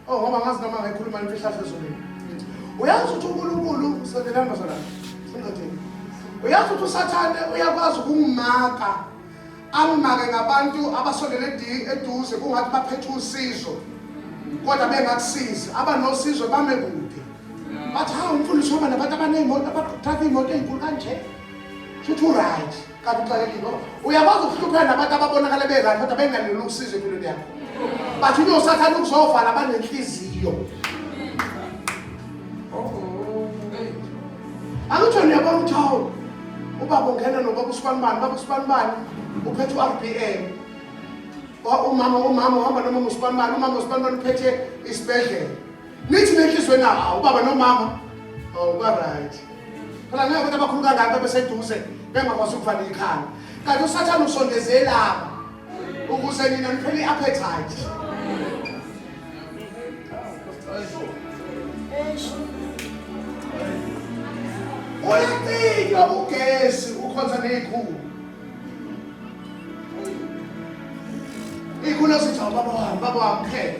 Oh ngoba ngazi noma ngikhuluma imfihlahlo ezulwini. Uyazi ukuthi uNkulunkulu usekelamba zona. Singathini. Uyazi ukuthi uSathane uyakwazi ukungimaka. Angimake ngabantu abasondele eduze kungathi baphethe usizo. Kodwa bengakusizi. Abanosizo bame kude. Bathi ha umfundisi waba nabantu abanezimoto abaqhatha imoto ezinkulu kanje. Should you write? kanti uxakekile ngoba uyakwazi ukuhlupheka nabantu ababonakale berayi kodwa bengaleli ukusiza empilweni yakho bathi unye usathane ukuzovala abanenhliziyo angitsho niyabona ukuthi hawu ubaba ungena nobaba usibanibani baba usibanibani uphethe u-r b m umama umama uhamba noma ngusibanibani umama usibanibani uphethe isibhedlela Nithi nenhliziyo na hawu ubaba nomama hawu ba right. Phela ngeke abantu abakhulu kangaka beseduze bengakwazi ukuvala ikhanda. Kanti usathane usondeze lapha ukuze nina niphele i-appetite. Uyacika ugesi ukhonza ney'khulu. Ikhulu esithi awubaba wami, baba wami phela.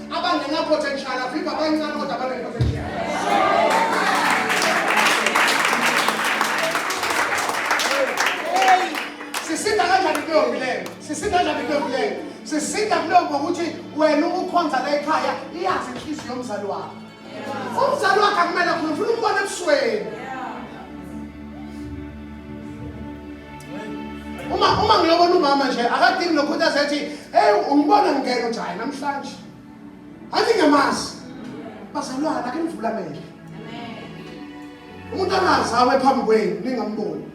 Abangena potential avimba abancane kodwa abangena potential. Sisinda kanjani kuleyo mbileyo? Sisinda kanjani kuleyo mbileyo? Sisinda kuleyo ngokuthi wena ukukhonza la ekhaya iyazi inhliziyo yomzali wakho. umzali wakhe akumele khona ufuna umbona ebusweni uma uma ngiyobona umama nje akadingi nokhuthaza ethi hey ungibona ngingena uthi hayi namhlanje athi ngiyamazi bazalwana ake nivula amehlo umuntu angazawe phambi kwenu ningamboni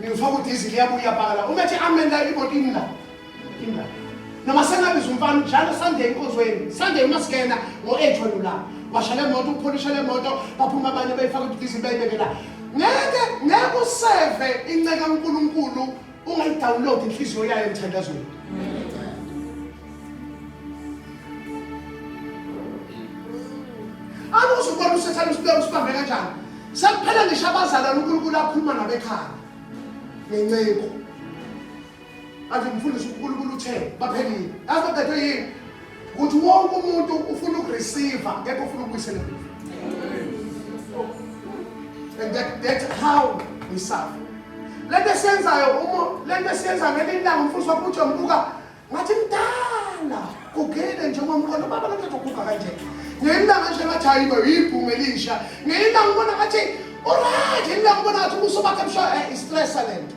ngifaka udizili yabuya iyapakala uma ethi amen la iboti imna imna noma sengabiza umfana njalo sande enkonzweni sande uma singena ngo-eight wena ulapha washa le moto upholisha le moto baphuma abanye bayifaka udizili bayibekela ngeke ngeke useve inceka unkulunkulu ungayidownload inhliziyo yayo emthandazweni awuze ukubona usathane usibeka usibambe kanjani sekuphela ngisho abazalwane unkulunkulu akhuluma nabo ekhaya ngenceku athi mfundisi unkulunkulu uthe baphelile yazi babethwe yini ukuthi wonke umuntu ufuna ukureceive ngeke ufuna ukubuyisela emuva and that, that's how we suffer lento esiyenzayo uma lento esiyenzayo ngelinye ilanga umfundisi wakho uthi yombuka ngathi mdala kugile nje ngomqondo baba lento kuguga kanje ngelinye ilanga nje ngathi hayi bo yibhungu elisha ngelinye ilanga ubona ngathi uright ngelinye ilanga ubona ngathi ubuso bakhe busho eh, istressa lento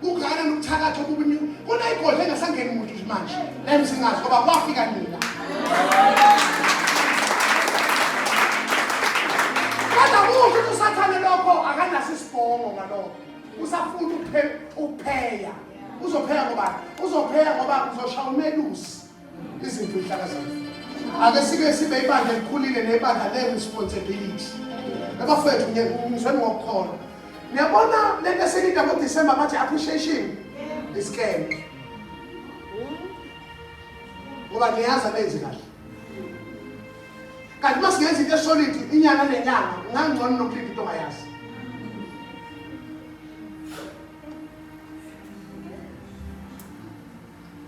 Kungana nokuthakatha okubini kunayigodla engasangeni muntu nje manje. Lem singazi ngoba kwafika nina. Kodwa kusho ukuthi usathane lokho akanaso isibongo ngalokho. Usafuna ukuphe- ukupheya. Uzopheya ngoba uzopheya ngoba uzoshaya umelusi. Izimfihlakazana. Ake sike sibe ibandla elikhulile nebandla le responsibility. Abafethu ngizweni ngokukholwa. Niyabona lento esilida ngo December bathi appreciation is scam. Ngoba niyazi abenzi kahle. Kanti masingenza into esolid inyanga nenyanga ngangcono nokulinda into ongayazi.